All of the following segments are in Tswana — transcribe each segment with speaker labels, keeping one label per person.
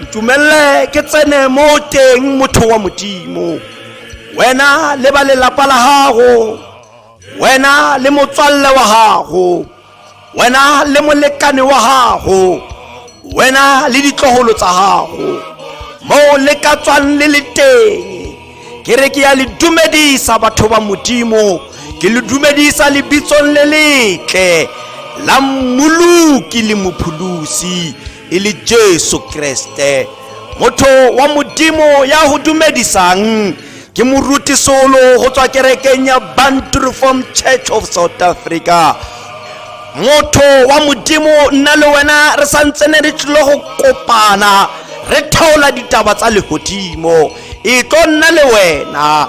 Speaker 1: ntumelele ke tsene mo teng motho wa modimo wena le ba lelapa la gago wena le motswalle wa gago wena le molekane wa gago wena le ditlogolo tsa gago moo le ka tswang le le teng ke re ke ya le dumedisa batho ba modimo ke le dumedisa lebitsong le letle la mmoloki le mopholosi e le jesu kreste motho wa modimo ya go dumedisang ke moruti solo go tswa kerekeng ya bantu reform church of south africa motho wa modimo nna le wena re santse ne re tlile go kopana re theola ditaba tsa legodimo e tlo nna le wena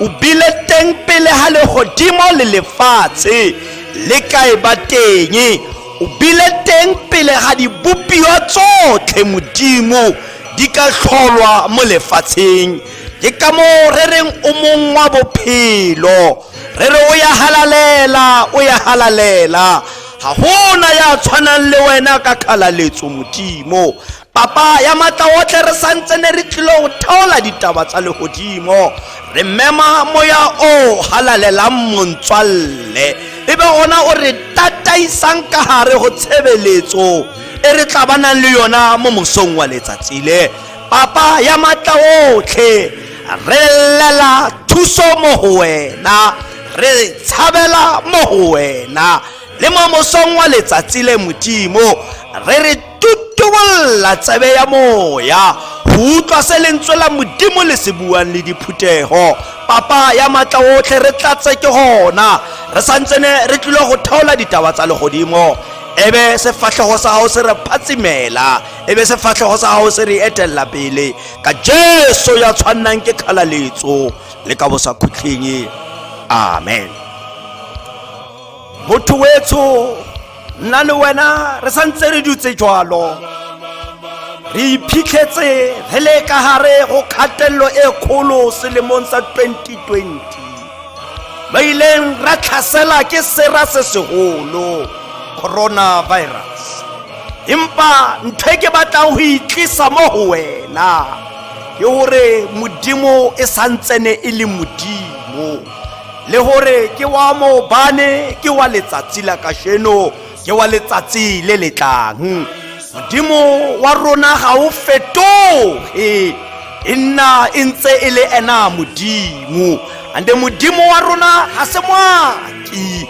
Speaker 1: o bile teng pele ga legodimo le lefatshe le ka e ba teng o bile teng pele ga dibopio tsotlhe modimo di ka tlholwa mo lefatsheng ke ka moo re reng o mong wa bophelo re re o ya halalela o ya halalela ga gona ya tshwanang le wena ka kgalaletso modimo Papa ya matla otlhe re santse ne re tlile go theola ditaba tsa legodimo re mema moya o halalelang montswalle e be gona o re tataisang ka gare go tshebeletso e re tla ba nang le yona mo mosong wa letsatsi le papa ya matla otlhe re llela thuso mo go wena re tshabela mo go wena le mo mosong wa letsatsi le modimo re re tutubolla tsebe ya moya go utlwa se lentswe la modimo le se buang le diphuthego papa ya maatla otlhe re tlatse ke gona re santsene re tlile go theola ditaba tsa legodimo ebe sefatlhego sa gago se re phatsimela ebe sefatlhego sa gago se re etelela pele ka jesu ya tshwannang ke kgalaletso le ka bosakhutlheng amen motho wetsho nna le wena re sa ntse re dutse jalo re iphitlhetse re le ka gare go kgatelelo e kgolo selemong sa 2020 ba ileng ra tlhasela ke sera se segolo coronavirus empa ntho e ke batlang go itlisa mo go wena ke gore modimo e santsene e le modimo le gore ke wa maobane ke wa letsatsi la kasheno ke wa letsatsi le le tlang modimo wa rona ga o fetoge e nna e ntse e le ena modimo ande modimo wa rona ga se moaki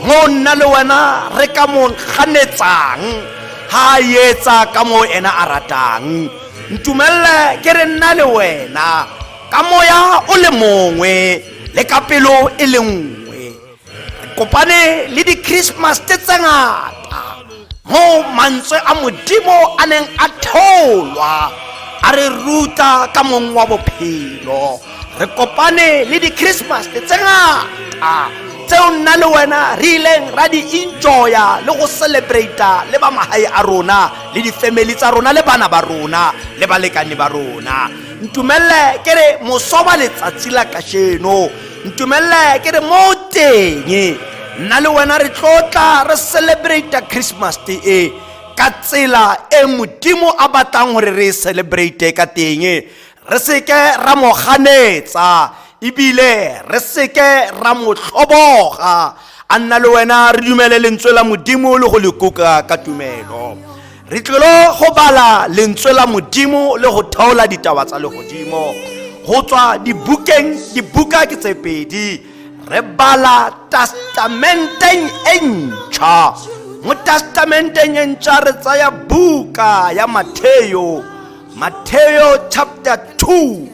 Speaker 1: mo nna le wena re ka mo ganetsang ga a etsa ka moo ena a ratang ntumelele ke re nna le wena ka moya o le mongwe le ka pelo e le nngwe kopane le di-christmas tse tse ngata mo mantswe a modimo a neng a theolwa a re ruta ka mong wa bophelo re kopane le di-christmas tse tse ngata tseo nna le wena re ileng ra di enjoya le go celebrata le ba magae a rona le di-family tsa rona le bana ba rona le balekane ba rona ntumelele ke re moso wa letsatsi la kasheno ntumelele ke re mo teng nna le wena re tlotla re celebrate christmas te e ka tsela e modimo a batlang gore re e celebrate ka teng re seke ra mo ganetsa ebile re seke ra mo tlhoboga a nna le wena re dumele lentswe la modimo le go le kuka ka tumelo re tlilo go bala lentswe la modimo le go theola ditaba tsa legodimo go tswa dibukeng dibuka ke tse pedi re bala testamenteng e ntšha mo testamenteng e ntšha re tsaya buka ya matheo matheo chapter 2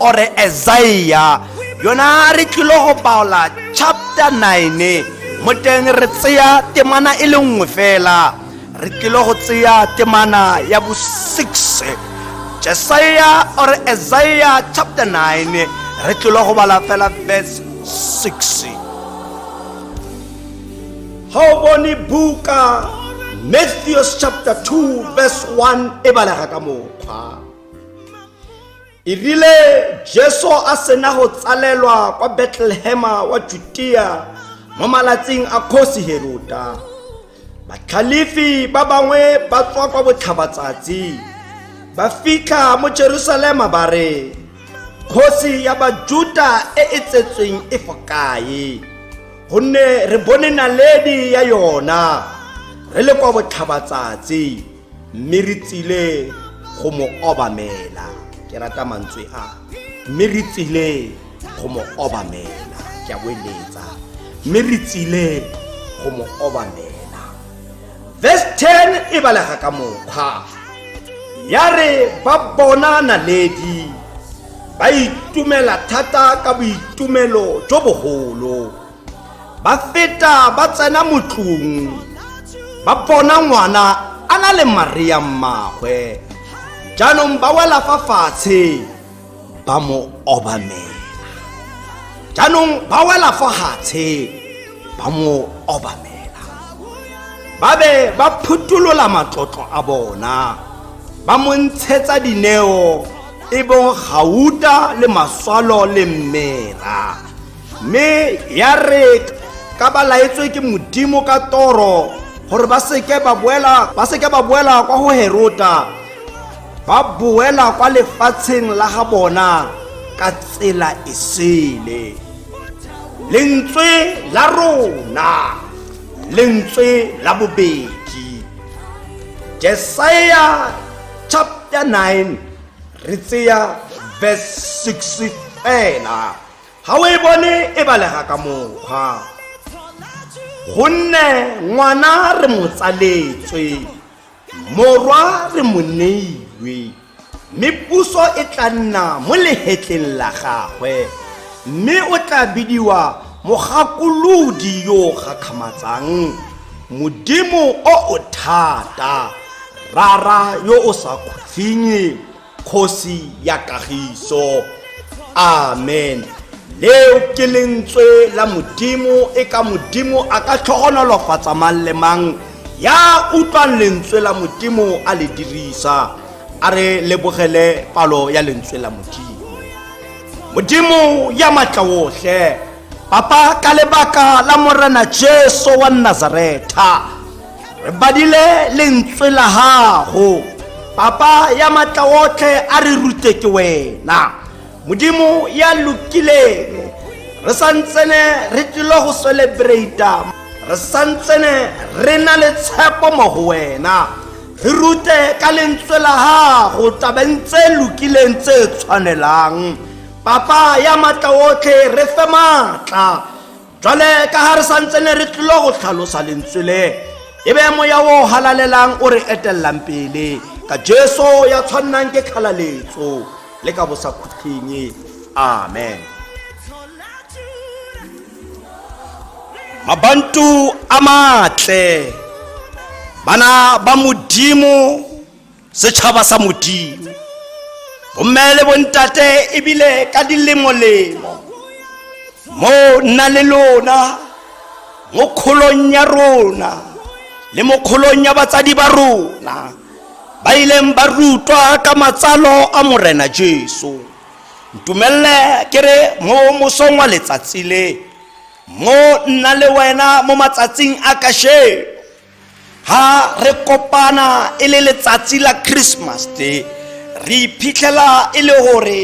Speaker 1: ore esaia yona re tlilo go paola chapter 9 mo teng re tseya temana e le nngwe fela re tlilo go tseya temana ya bo 6 jesaia ore esaia chapter 9 re tlilo go bala fela verse 6 ga o bone buka matthews chapter 2 verse 1 e balega ka mokgwa E rile Jesu a sena go tsalelwa kwa Betlehema wa Judea mo malatsing a kgosi Heroda, batlhalefi ba bangwe ba tswa kwa botlhabatsatsi ba fitlha mo Jerusalema ba re, kgosi ya Bajuda e e tsetsweng e fo kae? Gonne re bone naledi ya yona re le kwa botlhabatsatsi. mme re tsile go mo obamela ke rata mantswe a mme re tsile go mo obamela ke a boeletsa mme re tsile go mo obamela verse 10 e balega ka mokgwa ya re ba bona naledi ba itumela thata ka boitumelo jo bogolo ba feta ba tsena motlong ba bona ngwana a na le maria mmagwe jaanong ba wela fa fatshe ba mo obamela jaanong ba wela fa gatshe ba mo obamela ba be ba phutolola matlotlo a bona ba mo ntshetsa dineo e bong gauta le maswalo le mmera mme ya re ka ba laetswe ke modimo ka toro gore ba seke ba boela ba seke ba boela kwa go herota ba boela kwa lefatsheng la ga bona ka tsela e sele lentswe la rona lentswe la bobedi jesaja chapter 9 re tseya verse 6 fela ga o e bone e balega ka mokgwa gonne ngwana re mo tsaletswe morwa re mo neilwe mme puso e tla nna mo lehetleng la gagwe mme o tla bidiwa mogakolodi yo o gakgamatsang modimo o o thata rara yo o sa khutlhinye kgosi ya kagiso amen leo ke lentswe la modimo e ka modimo a ka tlhogonolofatsa mang le mang ya utlwang lentswe la modimo a le dirisa a re lebogele palo ya lentswe la modimo modimo ya matla otlhe papa ka lebaka la morena jesu wa nazaretha re badile lentswe la gago papa ya matla otlhe a re rute ke wena modimo ya lokileng re santsene re tlile go celebrata re santsene re na le tshepo mo go wena re rute ka lentswe la gago tabeng tse lokileng tse tshwanelang papa ya matla otlhe re fe maatla jwale ka ga re santse ne re tlilo go tlhalosa lentswe le e be moya o halalelang o re etelelang pele ka jesu ya tshwannang ke kgalaletso le ka bosakhutlheng amen mabantu a matle bana ba modimo Setšhaba sa Modimo, bomme le bontate ebile ka dilemolemo, mo nna le lona mo kgolong ya rona le mo kgolong ya batsadi ba rona ba ileng ba rutwa ka matsalo a morena jesu ntumelele ke re mo mosong wa letsatsi le mo nna le wena mo matsatsing a kasheno ha re kopana e le letsatsi la christmas day re iphitlhela e le gore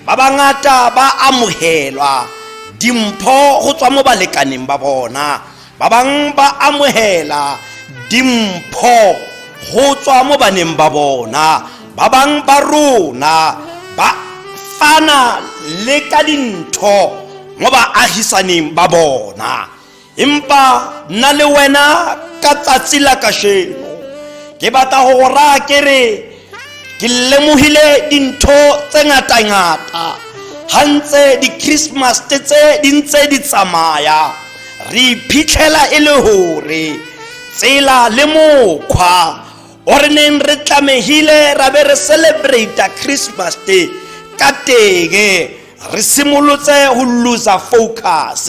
Speaker 1: ba bangata ba amogelwa dimpho go tswa mo balekaneng ba bona ba bangwe ba amogela dimpho go tswa mo baneng ba bona ba bangwe ba rona ba fana le ka dintho mo baagisaneng ba bona empa nna le wena ka tsatsi la kasheno ke batla go go raya ke re ke lemogile dintho tse ngatangata ga ntse di-christmas tse di ntse di tsamaya re iphitlhela e le gore tsela le mokgwa o re neng re tlamegile ra be re celebrata christmas day ka tenge re simolotse go loser focus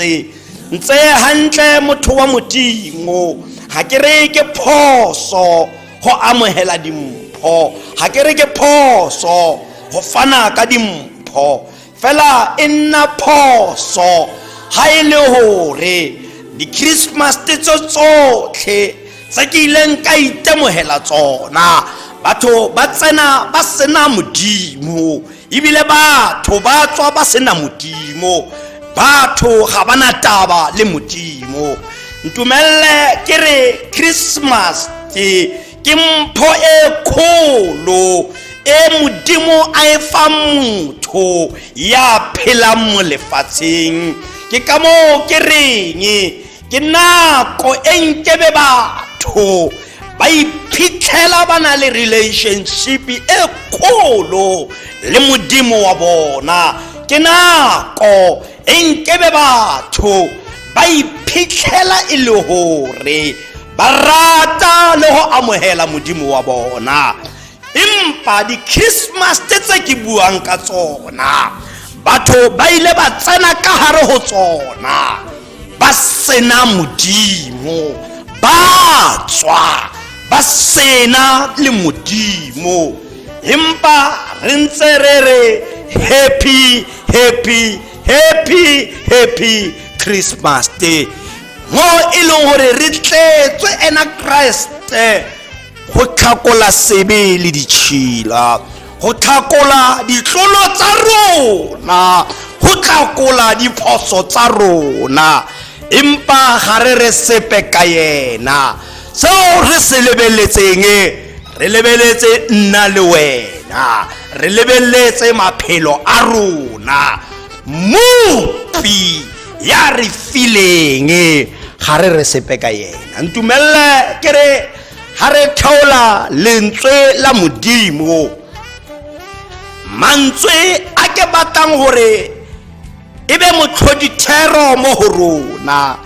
Speaker 1: ntse hantle motho wa modimo ga ke re ke phoso go amogela dimpho ga ke re ke phoso go fana ka dimpho fela e nna phoso ga e le gore di-christmas tse tsotlhe tse ke ileng ka itemogela tsona batho ba tsena ba sena modimo ebile batho ba tswa ba sena modimo batho ga ba na taba le modimo ntumelele ke re christmas ke ke mpho e kgolo e modimo a e fa motho ya phelang mo lefatsheng ke ka moo ke reng ke nako e nkebe batho ba iphitlhela ba na le relationship e kgolo le modimo wa bona ke nako e nkebe batho ba iphitlhela e le gore ba rata le go amogela modimo wa bona empa di-christmas tse tse ke buang ka tsona batho ba ile ba tsena ka gare go tsona ba sena modimo ba tswa ba sena le modimo empa re ntse re re happy happy happy happy christmas day mo e leng gore re tletswe ena kreste go tlhakola sebe le ditšhila go tlhakola ditlolo tsa rona go tlhakola diphoso tsa rona empa ga re re sepe ka yena seo re se lebeletseng re lebeletse nna le wena re lebeletse maphelo a rona mopi ya re fileng ga re re sepe ka yena ntumelele ke re ga re theola lentswe la modimo mantswe a ke batlang gore e be motlhodithero mo go rona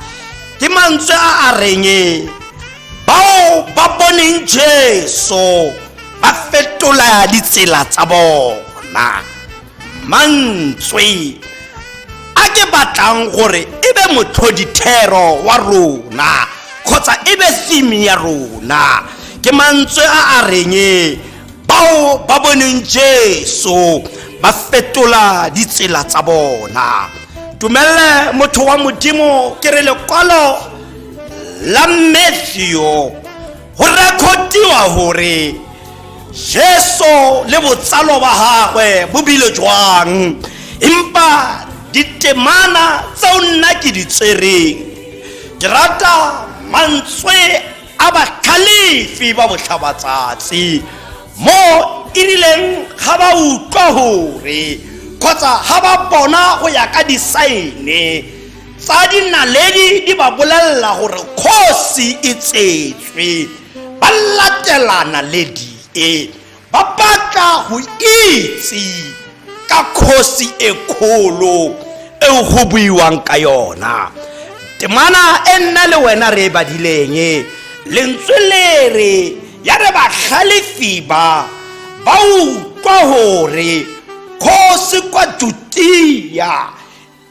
Speaker 1: ke mantswe a a reng bao ba boneng jesu ba fetola ditsela tsa bona mantswe a ke batlang gore e be motlhodithero wa rona kgotsa e be theme ya rona ke mantswe a a reng bao ba boneng jesu ba fetola ditsela tsa bona tumelele motho wa modimo ke re lekwalo la matthew go rekhotiwa gore jesu le botsalo ba gagwe bo bile jwang empa ditemana tseo nna ke di tsereng ke rata mantswe a batlhalefi ba botlhabatsatsi mo e rileng ga ba utlwa gore kgotsa ga ba bona go ya ka disaene tsa dinaledi di ba bolelela gore kgosi e tsetswe ba latela naledi e ba batla go itse ka kgosi e kgolo eo go buiwang ka yona temana e nna le wena re e badileng lentswe le re ya re batlhalefi ba ba utlwa gore kgosi kwa jutia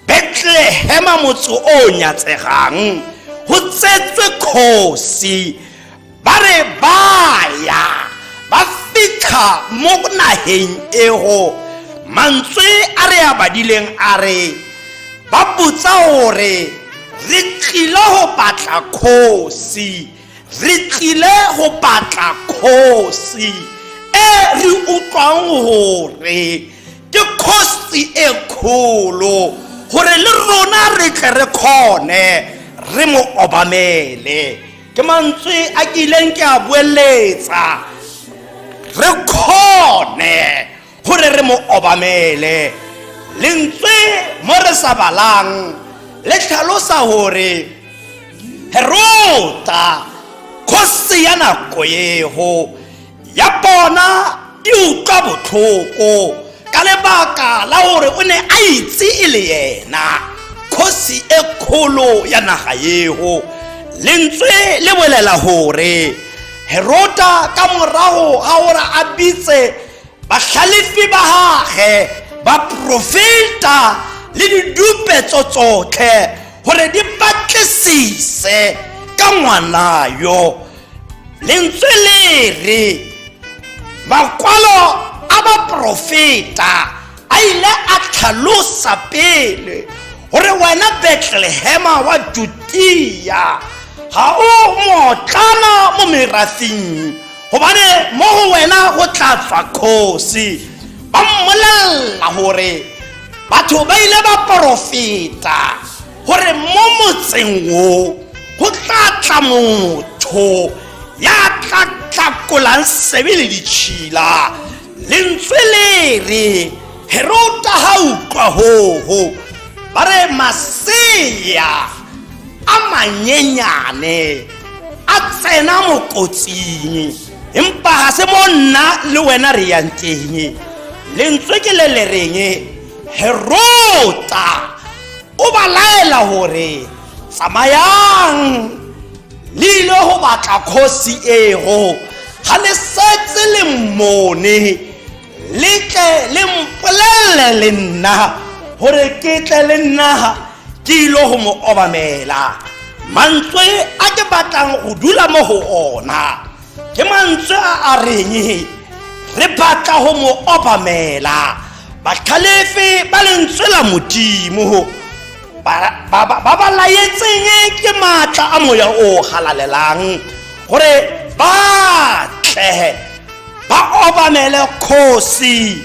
Speaker 1: betlehema motse o o nyatsegang go tsetswe kgosi ba re baya ba fitlha mo nageng ego mantswe a re a badileng a re ba botsa gore re tlile go batla kgosi re tlile go batla kgosi e re utlwang gore ke kgosi e kgolo gore le rona re tle re kgone re mo obamele ke mantswe a ke ileng ke a boeletsa re kgone gore re mo obamele lentswe mo re sa balang le tlhalosa gore herota kgosi ya nako ego ya bona e utlwa botlhoko ka lebaka la gore o ne a itse e le yena kgosi e kgolo ya naga ego lentswe le bolela gore herota ka morago ga gore a bitse Bahlalefi ba gage ba profeta le didupetso tsotlhe gore di batlisise ka ngwana yo lentswe le re makwalo a baprofeta a ile a tlhalosa pele gore wena betlehema wa judia ga o motlana mo merafing gobane mo go wena go tla tswa kgosi ba mmolelela gore batho ba ile ba porofeta gore mo motseng o go tla tla motho ya tla tlakolang sebe le ditšhila lentswe le re herota ga utlwa hoho ba re masea a manyenyane a tsena mokotsing empa ga se mo nna le wena re yang teng lentswe ke le le reng herota o ba laela gore tsamayang le ile go batla kgosi ego ga le setse le mmone le tle le mpolelele le nna gore ke tle le nna ke ile go mo obamela mantswe a ke batlang go dula mo go ona ke mantswe a a reng re batla go mo obamela batlhalefe ba lentswe la modimo ba ba laetseng ke maatla a moya o galalelang gore ba tle ba obamele kgosi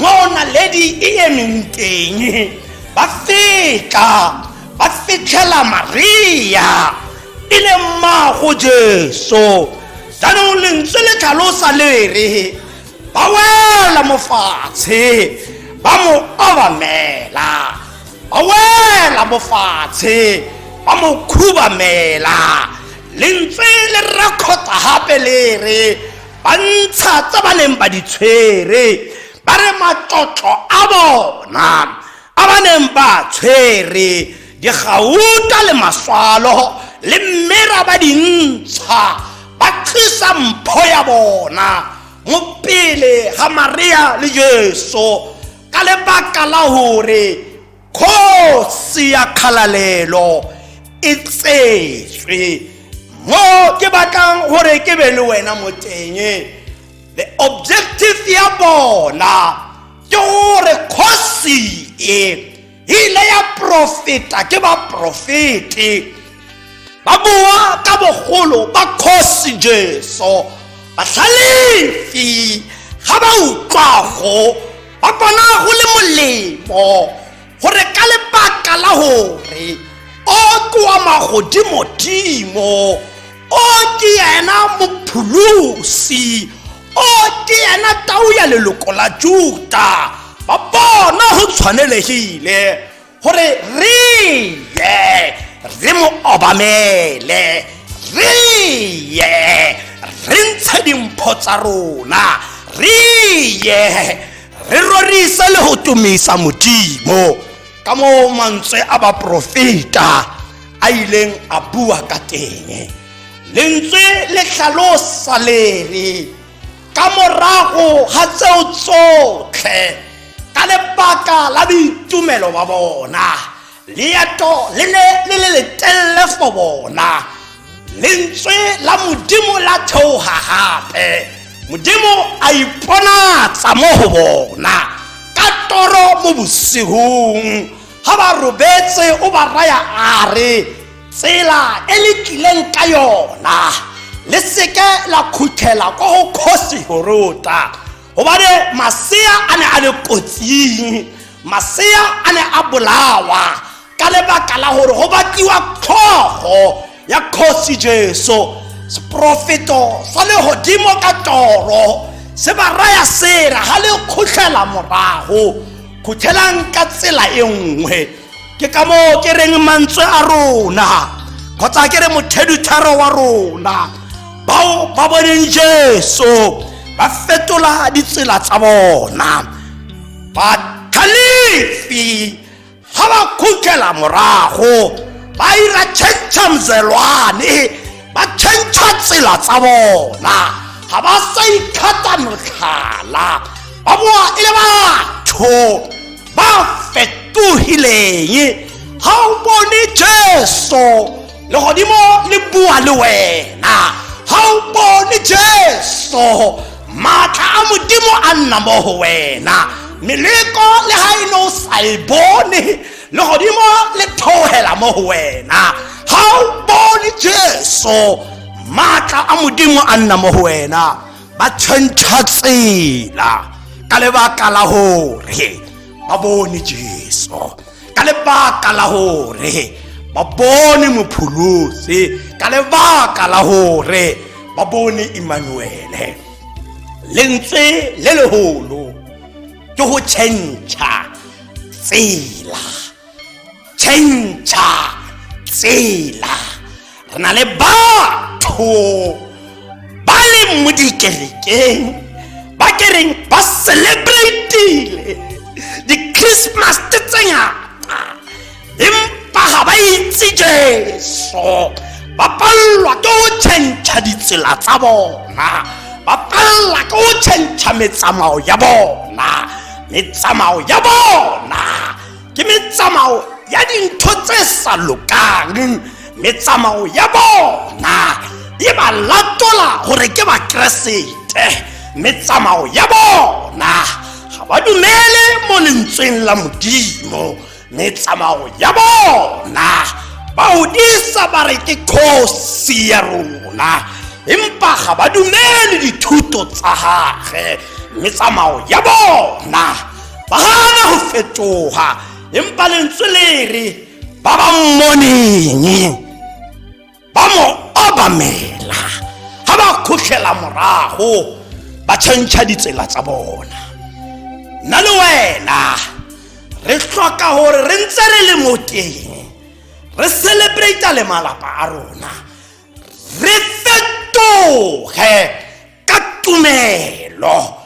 Speaker 1: moo naledi e emeng teng ba fetla ba fitlhela maria e le mmago jesu jaanong lentswe le tlhalosa le re ba wela mo fatshe ba mo obamela ba wela mo fatshe ba mo khubamela lentswe le rakgota gape le re ba ntsha tse ba neng ba di tshwere ba re matlotlo a bona a ba neng ba tshwere digauta le maswalo le mmera ba di ntsha ba tlisa mpho ya bona mo pele ga maria le jesu ka lebaka la gore kgosi ya kgalalelo e tsetswe mo ke batlang gore ke be le wena mo teng the objective ya bona ke gore kgosi e ile ya profeta ke baprofete ba bua ka bogolo ba kgosi jesu batlhalefi ga ba utlwago ba bona go le molemo gore ka lebaka la gore o koa magodimodimo o ke yena mopholosi o ke yena tau ya leloko la juta ba bona go tshwanelegile gore re ye re mo obamele re ye re ntshe dimpho tsa rona re ye re rorise le go tumisa modimo ka moo mantswe a baporofeta a ileng a bua ka teng lentswe le tlhalosa lere ka morago ga tseo tsotlhe ka lebaka la boitumelo ba bona leeto le ne le le letelele for bona lentswe la modimo la theoga gape modimo a iponatsa mo go bona ka toro mo bosigong ga ba robetse o ba raya a re tsela e le tlileng ka yona le seke la khuthela ko go kgosi horota gobane masea a ne a le kotsing masea a ne a bolawa ka lebaka la gore go batliwa tlhogo ya kgosi jesu seporofeto sa legodimo ka toro se ba raya sera ga le khutlhela morago khuthelang ka tsela e nngwe ke ka moo ke reng mantswe a rona kgotsa ke re mothedutharo wa rona bao ba boneng jesu ba fetola ditsela tsa bona bathalifi ga ba khutlela morago ba ira chantsha mzelwane ba chantsha tsela tsa bona ga ba sa ikgata motlhala ba boa e le batho ba fetogileng ga o bone jesu legodimo le bua le wena ga o bone jesu maatla a modimo a nna mo go wena meleko le ga e ne o sa e bone legodimo le theogela mo go wena ga o bone jesu maatla a modimo a nna mo go wena ba change tsela ka lebaka la gore ba bone jesu ka lebaka la gore ba bone mopholosi ka lebaka la gore ba bone emmanuele lentswe le legolo ke go change tsela change-a tsela re na le batho ba leng mo dikerekeng ba kereng ba celebratile di-christmas tse ngata empa ga ba itse jeso ba palelwa ke go change-a ditsela tsa bona ba palelwa ke go change-a metsamao ya bona metsamao ya bona ke metsamao ya dintho tse sa lokang metsamao ya bona e ba latola gore ke bakeresete metsamao ya bona ga ba dumele mo lentsweng la modimo metsamao ya bona ba odisa ba re ke kgosi ya rona empa ga ba dumele dithuto tsa gage metsamao ya bona ba gana go fetoga empa lentswe le re ba ba mmoneng ba mo obamela ga ba kgotlhela morago ba tšhentšha ditsela tsa bona nna le wena re tlhoka gore re ntse re le mo teng re celebrata le malapa a rona re fetoge ka tumelo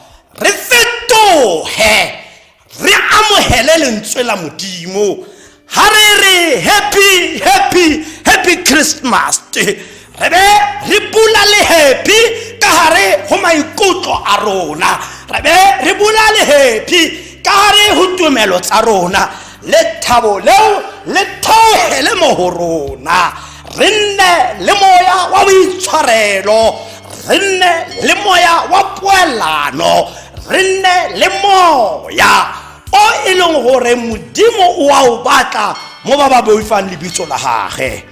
Speaker 1: re fetoge re amogele lentswe la modimo ga re re happy happy happy christmas re be re bula le happy ka gare go maikutlo a rona re be re bula le happy ka gare go tumelo tsa rona le thabo leo le theogele mo go rona re nne le moya wa boitshwarelo re nne le moya wa poelano re nne le moya o e leng gore modimo o a o batla mo ba ba boifang lebitso la gage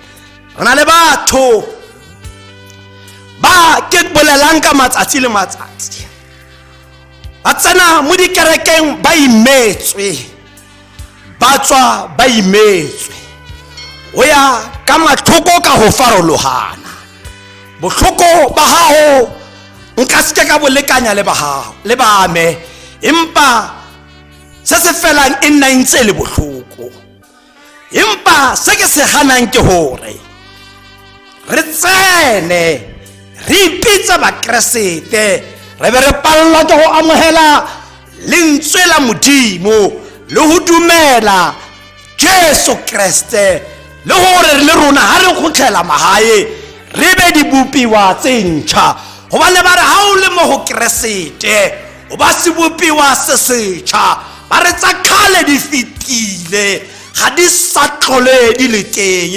Speaker 1: re na le batho ba ke bolelang ka matsatsi le matsatsi ba tsena mo dikerekeng ba imetswe ba tswa ba imetswe go ya ka matlhoko ka go farologana botlhoko ba gago nka seke ka bolekanya le bagago le bame empa se se felang e nna ntse e le botlhoko empa se ke se ganang ke gore re tsene re ipitse bakeresete re be re palelwa ke go amogela lentswe la modimo le go dumela jesu kreste le gore le rona ga re kgotlhela magae re be dibopiwa tse ntšha gobane ba re ga o le mo go keresete o ba sebopiwa se setšha ba re tsa kgale di fetile ga di sa tlhole di le teng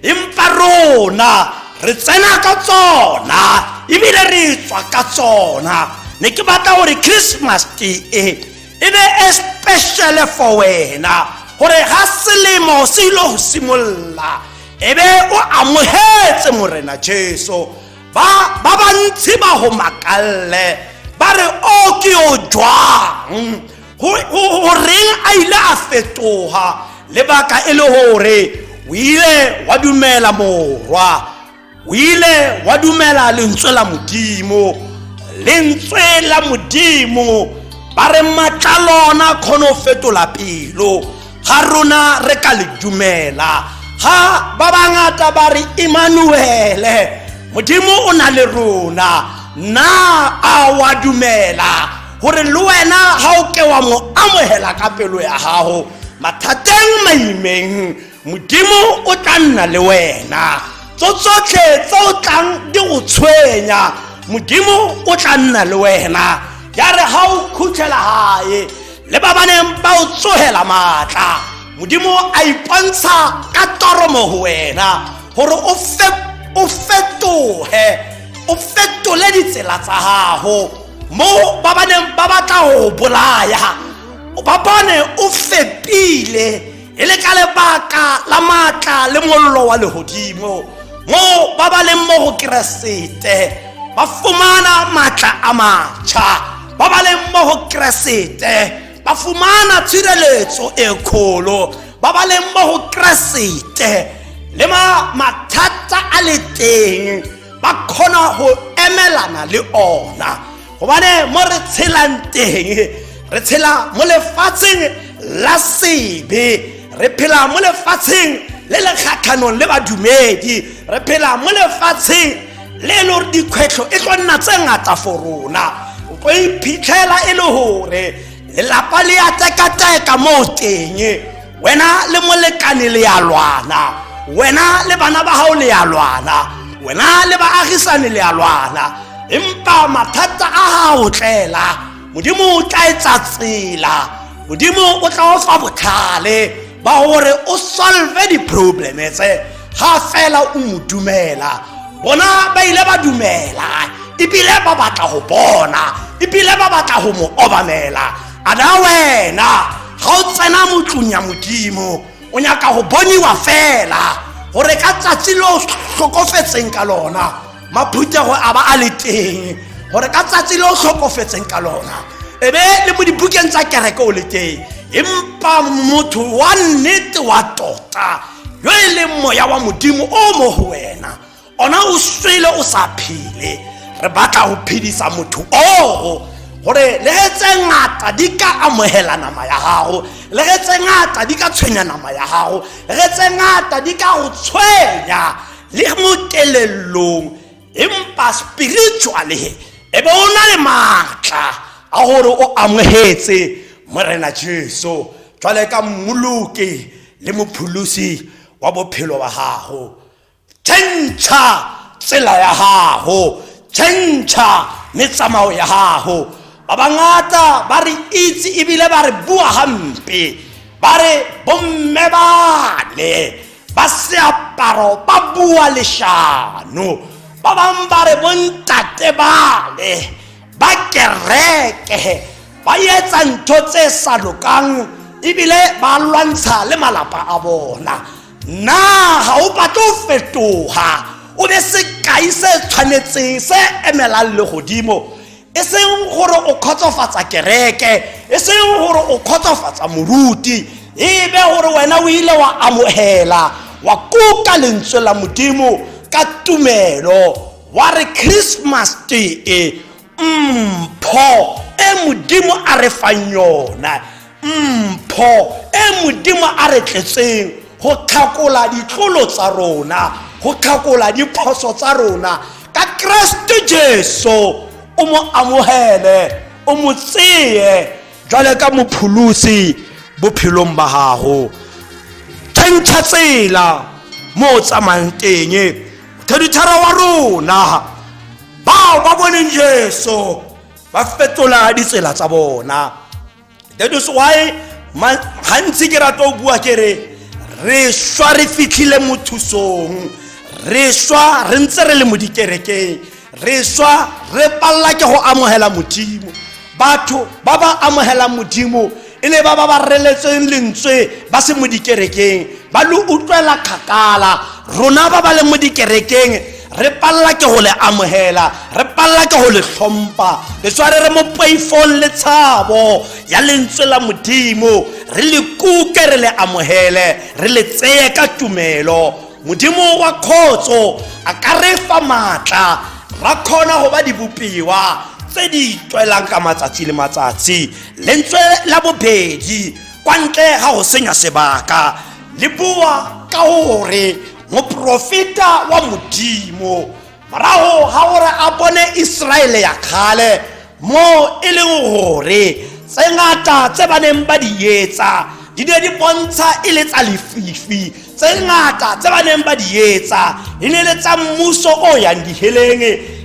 Speaker 1: empa rona re tsena ka tsona ebile re tswa ka tsona ne ke batla gore christmas e e be e speciale for wena gore ga selemo se ile go simolola e be o amogetse morena jesu ba ba bantsi ba go makalle ba re o ke o jwang go reng a ile a fetoga lebaka e le gore o ile wa dumela morwa o ile wa dumela lentswe la modimo lentswe la modimo ba re matla lona kgone go fetola pelo ga rona re ka le dumela ga ba bangata ba re emanuele modimo o na le rona na a wa dumela gore le wena ga o ke wa mo amogela ka pelo ya gago mathateng maimeng modimo o tla nna le wena tso tsotlhe tse o tlang di go tshwenya modimo o tla nna le wena ya re ga o khuthela gae le ba baneng ba o tsogela maatla modimo a ipontsha ka toromo go wena gore o fetoge o fetole ditsela tsa gago mo ba ba neng ba batla go bolaya ba bone o fepile e le ka lebaka la maatla le mollo wa legodimo mo ba ba leng mo go keresete ba fumana maatla a matšha ba ba leng mo go keresete ba fumana tshireletso e kgolo ba ba leng mo go keresete le mathata a le teng ba kgona go emelana le ona gobane mo re tshelang teng re tshela mo lefatsheng la sebe re phela mo lefatsheng le le kgatlhanong le badumedi re phela mo lefatsheng le e le gore dikgwetlho e tlo nna tse ngata for rona o tlo iphitlhela e le gore lelapa le ya tekateka mo teng wena le molekane le ya lwana wena le bana ba gago le ya lwana wena le baagisane le ya lwana empa mathata a gago tlela modimo o tla etsa tsela modimo o tla o fa botlhale ba gore o solve di-probleme tse ga fela o mo dumela bona ba ile ba dumela ebile ba batla go bona ebile ba batla go mo obamela a na wena ga o tsena motlong ya modimo o nyaka go boniwa fela gore ka tsatsi le o tlhokofetseng ka lona maphuthego a ba a le teng gore ka tsatsi le o tlhokofetseng ka lona e be le mo dibukeng tsa kereke o le teng empa motho wa nnete wa tota yo e leng moya wa modimo o mo go wena ona o swele o sa phele re batla go phedisa motho oo gore le ge tse ngata di ka amogela nama ya gago le ge tse ngata di ka tshwenya nama ya gago le ge tse ngata di ka go tshwenya le mo kelelong empa spiritually e be o na le maatla a gore o amogetse morena jesu jwale ka mmoloke le mopholosi wa bophelo wa gago tšhentšha tsela ya gago tšhentšha le tsamao ya gago ba bangata ba re itse ebile ba re bua gampe ba re bomme bane ba seaparo ba bua lešano ba bangwe ba re bontate bale ba kereke ba etsa ntho tse sa lokang ebile ba lwantsha le malapa a bona na ga o batle o fetoga o be sekai se tshwanetseng se emelang le godimo e seng gore o kgotsofatsa kereke e seng gore o kgotsofatsa moruti ebe gore wena o ile wa amogela wa kuka lentswe la modimo ka tumelo wa re christmas tee mpho e modimo a re fang yona mpho e modimo a re tletseng go tlhakola ditlolo tsa rona go tlhakola diphoso tsa rona ka keresete jesu o mo amogele o mo tseye jwale ka mopholosi bophelong ba gago tšhentšha tsela mo o tsamayang teng mothedithara wa rona bao ba boneng jesu ba fetola ditsela tsa bona that is why gantsi ke rata o bua ke re re swa re fitlhile mo thusong re swa re ntse re le mo dikerekeng re swa re palela ke go amogela modimo batho ba ba amogelang modimo e le ba ba ba reletseng lentswe ba se mo dikerekeng ba lo utlwela kgakala rona ba ba leng mo dikerekeng re palela ke go le amogela re palela ke go le tlhompa le tshware re mo poifong le tshabo ya lentswe la modimo re le kuke re le amogele re le tseye ka tumelo modimo wa kgotso a ka re fa maatla ra kgona go ba dibopiwa tse di tswelang ka matsatsi le matsatsi lentswe la bobedi kwa ntle ga go senya sebaka le bua ka gore moprofeta wa modimo morago ga gore a bone iseraele ya kgale moo e leng gore tse ngata tse ba neng ba di etsa di ne di bontsha e le tsa lefifi tse ngata tse ba neng ba di etsa di ne le tsa mmuso o yang diheleng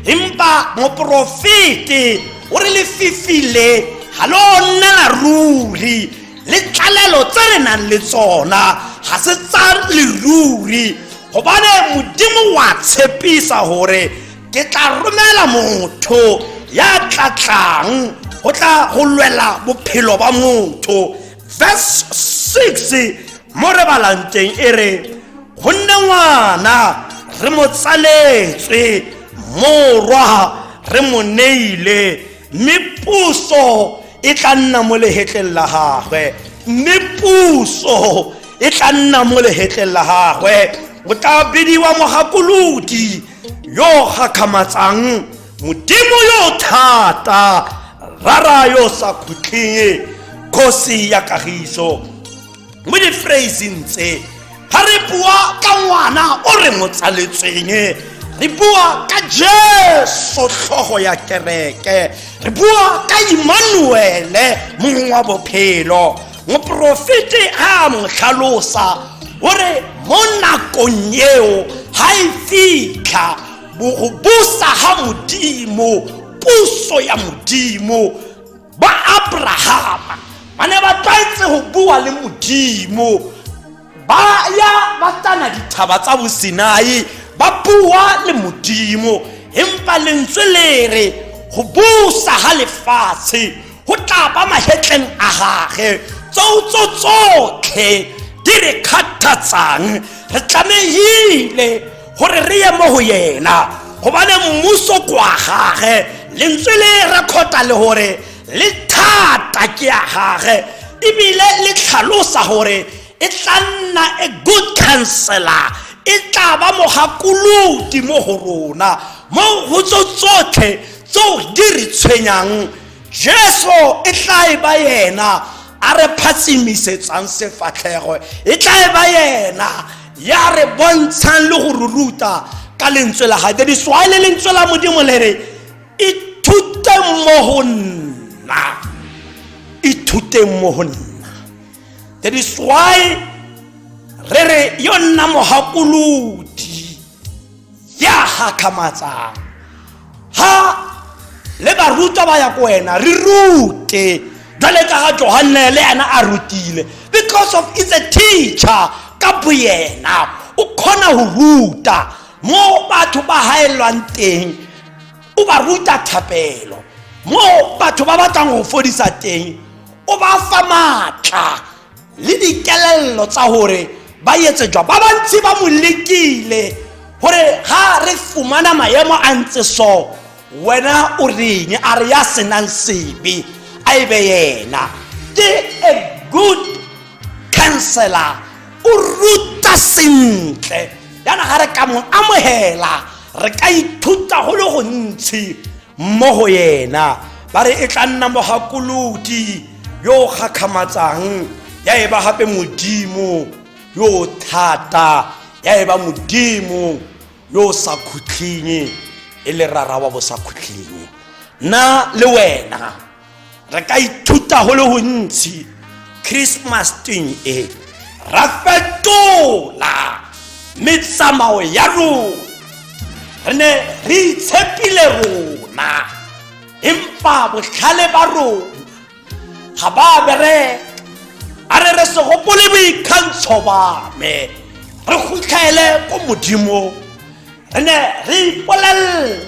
Speaker 1: empa moporofete o re lefifi le ga lo nna la ruri le tlalelo tse re nang le tsona ga se tsa leruri gobane modimo wa tshepisa gore ke tla romela motho ya tla tlang go tla go lwela bophelo ba motho verse 6 mo re balang teng e re go nne ngwana re mo tsaletswe morwa re mo neile mme puso e tla nna mo lehetleng la gagwe mme puso e tla nna mo lehetleng la gagwe o tla bidiwa mogakolodi yo o gakgamatsang modimo yo thata rara yo sa khutleng kgosi ya kagiso mo diphraseng tse ga re bua ka ngwana o re mo tsaletsweng re bua ka jesu tlhogo ya kereke re bua ka imanuele mongwe wa bophelo moporofete a mo tlhalosa o re mo nakong eo ga e fitlha go busa ga modimo puso ya modimo ba abrahama ba ne ba tlwaetse go bua le modimo ba ya ba tana dithaba tsa bosinai ba bua le modimo empa lentswe le re go busa ga lefatshe go tla ba magetleng a gage tsoutso tsotlhe di re kgathatsang re tlamehile gore re ye mo go yena gobane mmuso kwa gage lentswe le rekhota le gore le thata ke ya gage ebile le tlhalosa gore e tla nna a good counselor e tla ba mogakolodi mo go rona mo go tso tsotlhe tseo di re tshwenyang jesu e tla e ba yena a re phatsimisetsa sefatlhego e tla e ba yena ya re bontshang le go ruruta ka lentswe la gae di swale lentswe la modimo le re ithute mo go nna ithuteng mo go nna that is why re re yo nna mogakolodi ya gakgamatsang ha le barutwa ba ya ko wena re rute jwale ka ga johanne le ena a rutile because of it's a teacher ka boyena o kgona go ruta mo batho ba gaelelwang teng o ba ruta thapelo mo batho ba batlang go fodisa teng o ba fa maatla le dikelello tsa hore ba etse jwa ba bantsi ba mo lekile gore ga re fumana maemo a ntse so wena o reng a re ya senang sebe a e be yena ke a good counselor o ruta sentle yana ga re ka mo amogela re ka ithuta go le gontshi mo go yena ba re e tla nna mogakoloti yo o kgakgamatsang ya e ba gape modimo yo o thata ya e ba modimo yo o sa khutlhinye e le rara wa bo sa khutlhinye nna le wena re ka ithuta go le gontsi christmas twing e ra fetola metsamao ya rona re ne re itshepile rona empa botlhale ba rona ga ba bereka a re re se gopole boikgantsho ba me re kgotlhaele ko modimo re ne re ipolelela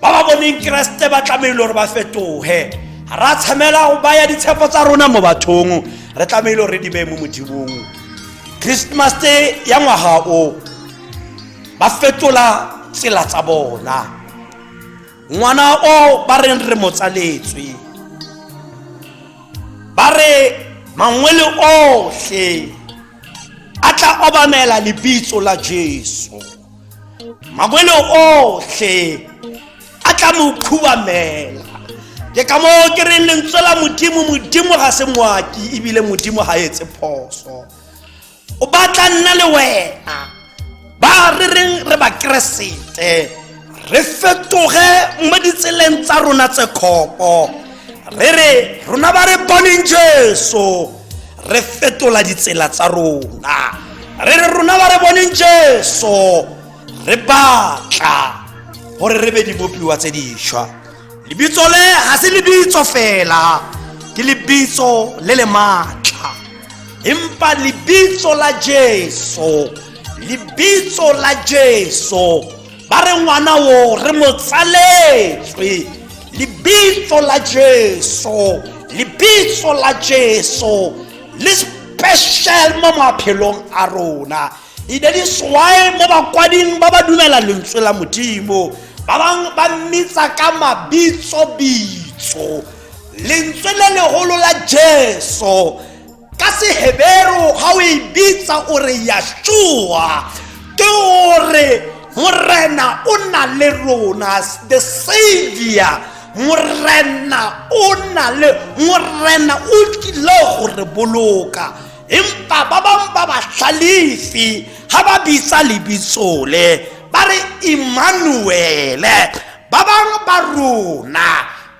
Speaker 1: ba ba boneng keresete ba tlamehile gore ba fetoge ga ra tshamela go baya ditshepo tsa rona mo bathong re tlamehile gore re di beye mo modimong christmas te ya ngwaga o ba fetola tsela tsa bona ngwana o ba reng re mo tsaletswe ba re mangwele otlhe a tla obamela lebitso la jesu mangwele otlhe a tla mo khubamela ke ka moo ke reng lentswe la modimo modimo ga se ngwaki ebile modimo ga etse phoso o batla nna le wena ba re reng re bakeresete re fetoge mo ditseleng tsa rona tse kgopo re re rona ba re boneng jesu re fetola ditsela tsa rona re re rona ba re boneng jesu re batla gore re be dibopiwa tse dišwa lebitso le ga se lebitso fela ke lebitso le le maatla empa lebitso la jesu lebitso la jesu ba re ngwana o re mo tsaletswe lebitso la jesu lebitso la jesu le special mo maphelong a rona e ne di swae mo bakwading ba ba dumela lentswe la modimo ba bangwe ba mmitsa ka mabitsobitso lentswe le legolo la jesu ka seheberu ga o e bitsa o re yashua ke gore morena o na le rona the savior morena o na le morena o tlile go re boloka empa ba bangwe ba batlhalefi ga ba bitsa lebitsole ba re emmanuele ba bangwe ba rona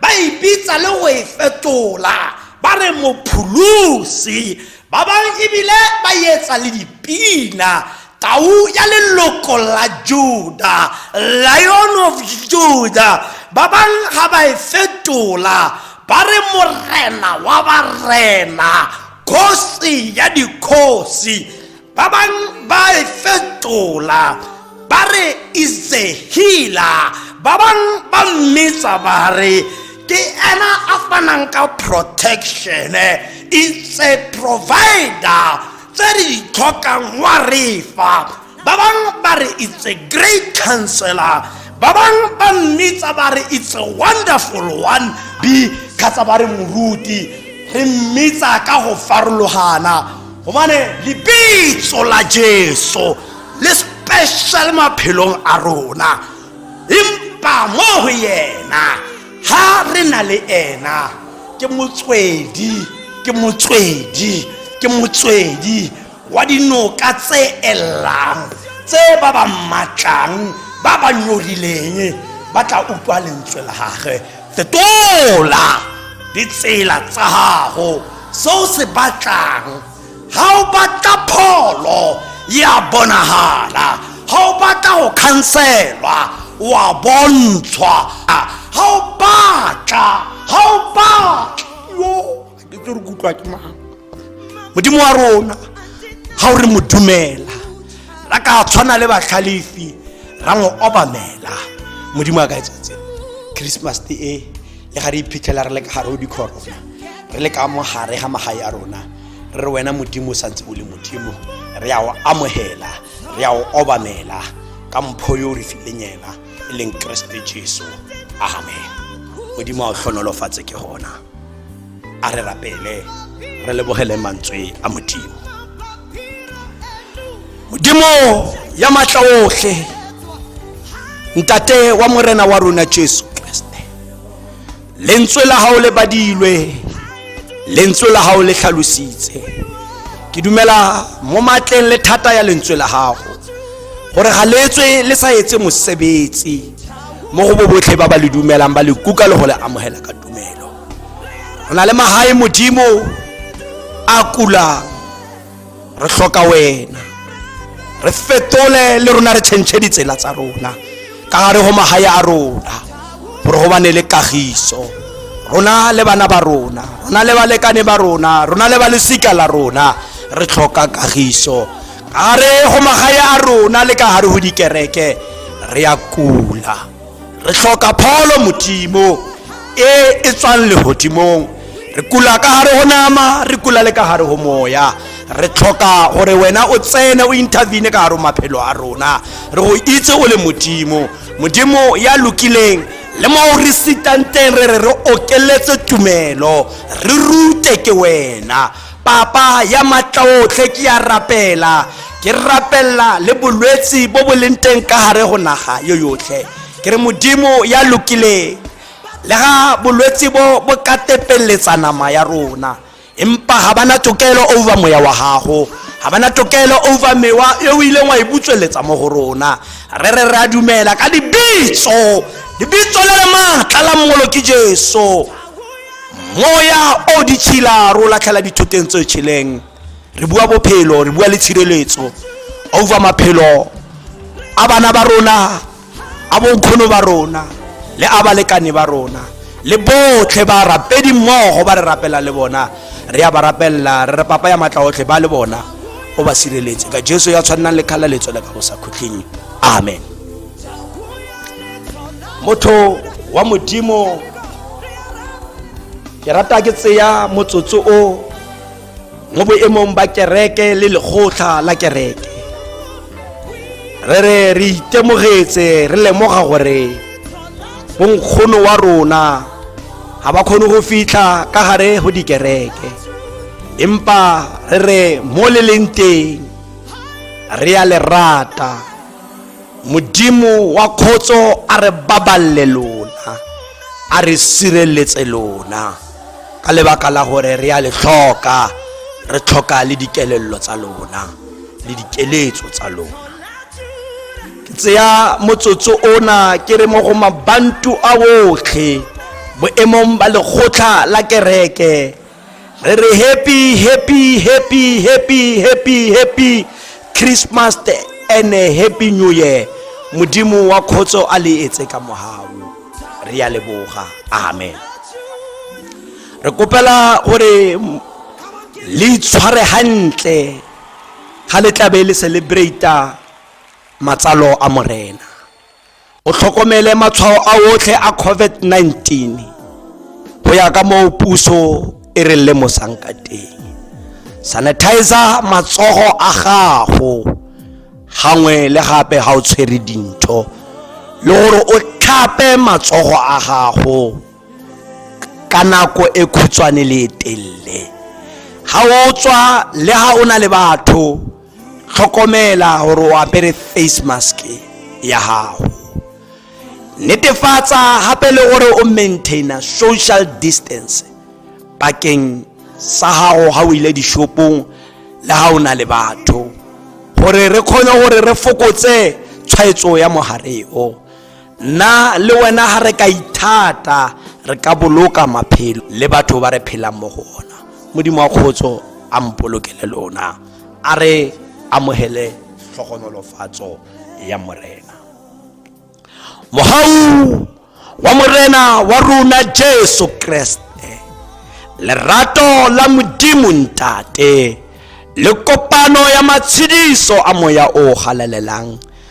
Speaker 1: ba e bitsa le go e fetola ba re mopholosi ba bangwe ebile ba etsa le dipina tau ya leloko la juda lion of juda ba bangwe ga ba e fetola ba re morena wa barena kgosi ya dikgosi ba bang ba e fetola ba re isehila ba bang ba mmetsa ba re ke ena a fanang ka protection it's a provider tse re di tlhokang wa re fa ba bang ba re it's a great counselor ba bang ba mmitsa ba re it's a wonderful one b kgatsa ba re moruti re mmitsa ka go farologana gobane lebitso la jesu le special maphelong a rona empa mo go yena ha re na le ena ke motswedi ke motswedi ke motswedi wa dinoka tse elang tse ba ba mmatlang ba ba nyorileng ba tla utlwa lentswe la gage fetola ditsela tsa gago se o se batlang ga o batla pholo ya bonagala ga o batla go khanselwa wa bontshwa ga o batla ga o batla ke tse re kutlwa ke mang modimo wa rona ga o re mo dumela ra ka tshwana le batlhalefi ra mo obamela modimo a ka etsetse christmas te e le ga re iphitlhela re le ka gare o dikhorona re le ka mo gare ga magae a rona re re wena modimo o santse o le modimo re ya o amogela re ya o obamela ka mpho yo o re fileng ena e leng keresete jesu amen modimo a o tlhonolofatse ke gona a re rapele re lebogele mantswe a modimo modimo ya matla otlhe ntate wa morena wa rona jesu kriste lentswe la gago le badilwe lentswe la gago le tlhalositse ke dumela mo matleng le thata ya lentswe la gago gore ga letswe le sa etse mosebetsi mo go bo botlhe ba ba le dumelang ba le kuka le go le amogela ka tumelo re na le magae modimo a kulang re tlhoka wena re fetole le rona re tšhentšhe ditsela tsa rona ka gare go magae a rona gore go bane le kagiso rona le bana ba rona rona le balekane ba rona rona le ba lesika la rona re tlhoka kagiso gare go magae a rona le ka gare go dikereke re ya kula re hloka pholo modimo e e tswang legodimong re kula ka gare go nama re kula le ka gare go moya re tlhoka gore wena o tsene o intervene ka gare maphelo a rona re go itse o le modimo modimo ya lokileng le mo o re sitang teng re re re okeletse tumelo re rute ke wena Papa ya matlaotlhe ke ya rapela ke rapella le bolwetsi bo bo leng teng ka gare go naga yo yotlhe ke re modimo ya lokileng le ga bolwetsi bo bo ka tepelletsa nama ya rona empa ga bana tokelo over moya wa gago ga bana tokelo over mewa e o ileng wa e butsweletsa mo go rona re re re a dumela ka dibitso dibitso le le maatla la mmolo ke jesu moya o ditšhila ro latlhela dithoteng tse tšheleng re bua bophelo re bua le tshireletso over maphelo a bana ba rona a bonkgono ba rona le a balekane ba rona le botlhe ba rapedi mmogo ba re rapela le bona re ya ba rapelela re re papa ya matla otlhe ba le bona o ba sireletse ka jesu ya tshwannang le kgalaletso le ka go sa khutlheng amen motho wa modimo ke rata ke tseya motsotso o mo boemong ba kereke le lekgotlha la kereke re re re itemogetse re lemoga gore bonkgono wa rona ga ba kgone go fitlha ka gare go dikereke empa re re mo le leng teng re ya lerata modimo wa kgotso a re baballe lona a re sireletse lona ka lebaka la gore re a le tlhoka re tlhoka le dikelello tsa lona le dikeletso tsa lona ke tseya motsotso ona ke re mo go mabantu a botlhe boemong ba lekgotla la kereke re re happy happy happy happy happy happy christmas and a happy new year modimo wa kgotso a le etse ka mogao re ya leboga amen re kopela gore le itshware gantle ga le tlabe le celebrata matsalo a morena o tlhokomele matshwao a otlhe a COVID-19 go ya ka moo puso e re lemosang ka teng sanitizer matsogo a gago gangwe le gape ga o tshwere dintho le gore o tlhape matsogo a gago ka nako e khutshwane le e telele ga o tswa le ga o na le batho tlhokomela gore o apere face mask ya gago netefatsa gape le gore o maintaina social distance pakeng sa gago ga o ile dishopong le ga o na le batho gore re kgone gore re fokotse tshwaetso ya mogare o nna le wena ga re ka ithata re ka boloka maphelo le batho ba re phelang mo go ona modimo wa kgotso a mpolokele lona a re amogele tlhogonolofatso ya morena mogau wa morena wa rona jesu kreste lerato la modimo ntate le kopano ya matshediso a moya o galalelang